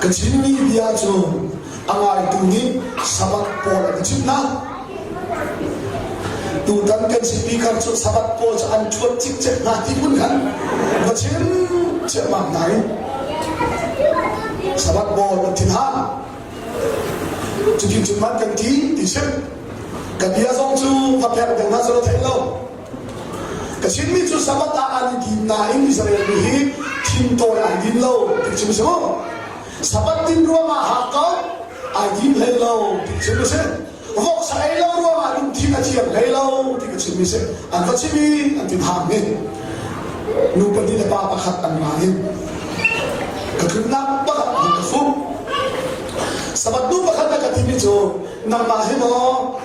Ka chimmi bia cu a ngaitu nih Sabbath pawl an i chimh hna. Tutan kan chimmi kar cu Sabbath pawl cu an ṭhuat cikcek hna ti hmun khan va chim ciammam hna in Sabbath pawl an thin hna. Cutin cun man kan ti ti chim. Ka bia zong cu va pek deuh hna selaw thei lo. Ka chimmi cu Sabbath ah an i din nain Israel mi hi thingtawi an din lo ti cu si mu. Sabbath din ruangah hakkot ai din hlei lo ti cu si. Voksa ei lo ruangah lungthin a thiam hlei lo ti ka chimmi si. An va chimi an ti hang ni. Nu pahnih le pa pakhat an ra in ka tlunnak pakhat hmun ka fu. Sabbath nu pakhat na ka timi cu nangmah he maw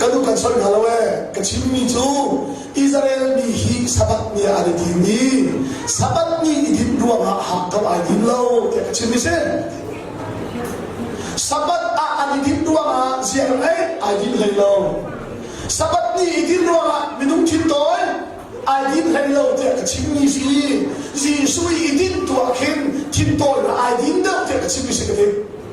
ka nu kan soi hna lo ee ka chimmi cu Israel mi hi sabath ni ah an i din i sabath ni i din ruangah hak kam ai din lo tiah ka chimmi si sabath ah an i din ruangah ziang ei ai din hlei lo sabath ni i din ruangah minung thin tawi ai din hlei lo tiah ka chimmi si Jesuh i din tuah khin thin tawi ai din deuh tiah ka chimmi si ka ti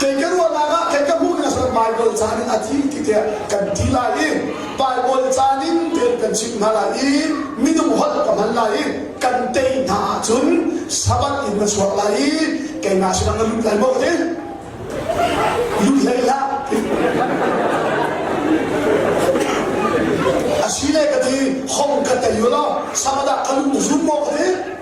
kei ka ruahnak ah kei ka hmuh nak cun Bible caan in a thi ti tiah kan thi lai i Bible caan in tel kan chimh hna lai i minung holh ka hman lai i kan tei hna ahcun sabat in na chuak lai i kei na sinah na lut lai maw ti lut hlei hlah a si le ka ti hong ka tei lo sabadah ka lut zum maw ka ti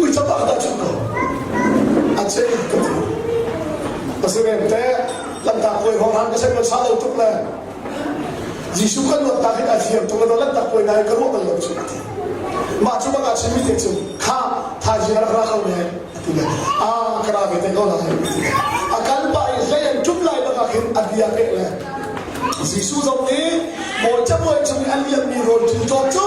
Uica pa ka cuh ko. A ce ka cu. A si men te, lantak kuai hor han ka sen kan sa lo tuk le. Jesu kan luat tak in a thiam tuk le lantak kuai nai ka ruah kan lo cuh ti. Mah cu bak a chimi te cu, kha thaji a rak ra ko ne, a ti le. A ka ra ve te ko lai, a ti le. A kalpa in hlei an ṭum lai bak hin a bia ke le. Jesu zong nih, Bawi cabuai chung i a liammi rawl ṭin ṭawt cu,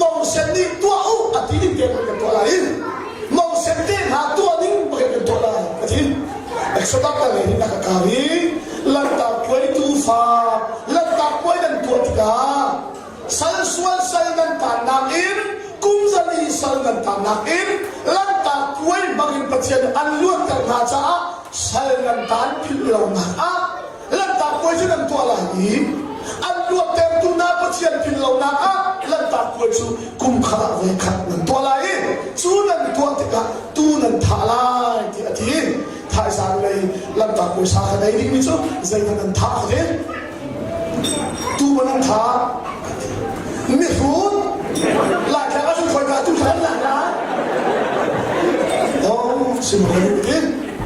Mongsen nih tuah u a ti ding tein kan tuah lai i Mongsen te hna tuah ding bangin kan tuah lai a ti. Exodus ka ngei na ka kar i lantak puai tu fa lantak puai nan tuah tikah sal sual sal nan tannak in kum zali sal nan tannak in lantak puai bangin Pathian an luatter hna caah sal nan tan philh lonak ah Lanhtak puai cu nan tuah lai i an luattertu hna Pathian thin lonak ah lanhtak puai cu kum khat ah voi khat nan tuah lai i cu nan tuah tikah tuu nan thah lai ti a ti. Phaisa lei lanhtak puai sa kan ei dingmi cu zeitin nan thah a ti? Tuu maw nan thah? Mihrut Laitlang ah cun khawi dah tuu thah an lai lai? Oh, chim lo in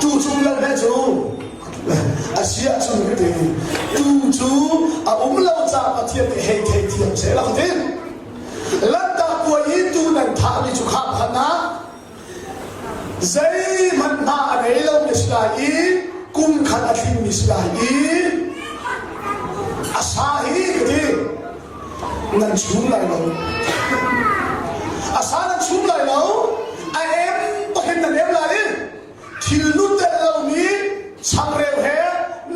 Tu chung lal he cu a si ahcun ka ti tu cu a um lo caah Pathian nih hei thei thiam seh lang din lantak puai i tu nan thahmi cu khah phan ah zeihmanh hna a ngei lomi si lai i kum khat a tlingmi si lai i a sa hi ka ti nan chum lai lo a sa nan chum lai lo a em pahin nan em lai thil nutel lomi changreu he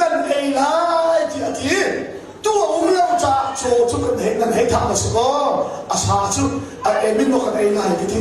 nan ei lai ti a ti tu a um lo caah caw cu kan hei nan hei thang a si ko a sa cu a em in kan ei lai ti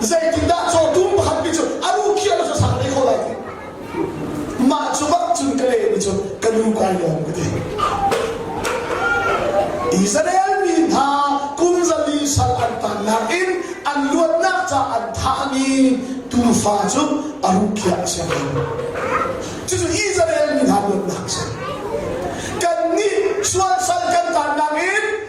Zeitindah cawtu pakhat nih cun a nu khiah na sang dei kho lai ti mah cu bak cun ka le nih cun ka nu kai lawm ka ti Israel mi hna kum zali sal an tannak in an luatnak ca an thah i tufa cu a rukhiah a si cucu Israel mi hna luatnak a si kan nih sual sal kan tannak in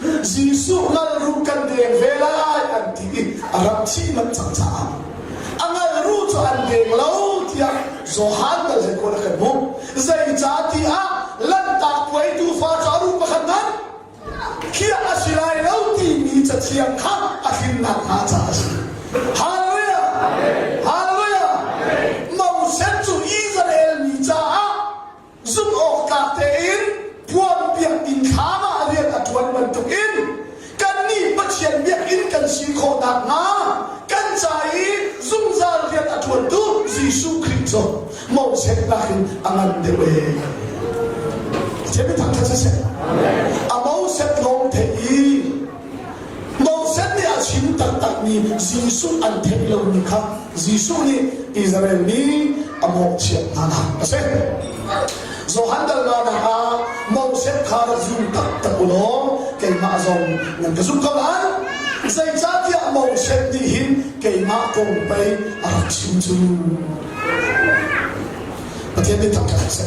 Jesuh ngal ru kan deng ve lai an ti i a rak thih manh cang caah a ngal ru cu an deng lo tiah Johan dal zeikawl a kan hmuh zeicah tiah lanhtak puaitu fa cu a ru pakhat nan khiah a si lai lo timi cathiang kha a hrinnak hnga caah a si Hallelujah Hallelujah Moses cu Israel mi caah zumhawktlak tein puan biakinn thlam ah rian a ṭuan bantukin kannih Pathian biakinn kan si khawh nakhnga kan ca i zungzal rian a ṭuantu Jesuh Khrih cu motsetnak in a ngan deuh ee. Cemi thangṭhat siseh, a moset lawng theih i Moses nih a chim taktakmi Jesuh an theih lomi kha Jesuh nih Israel mi a mawhchiat hnanak a si. Johan Dalmana ah Moses kha ra zum taktak u law keimah zong nan ka zum ko lai. Zeicahtiah Moses nih hin keimah kong pei a rak chim cu. Pathian nih thangṭhat a si.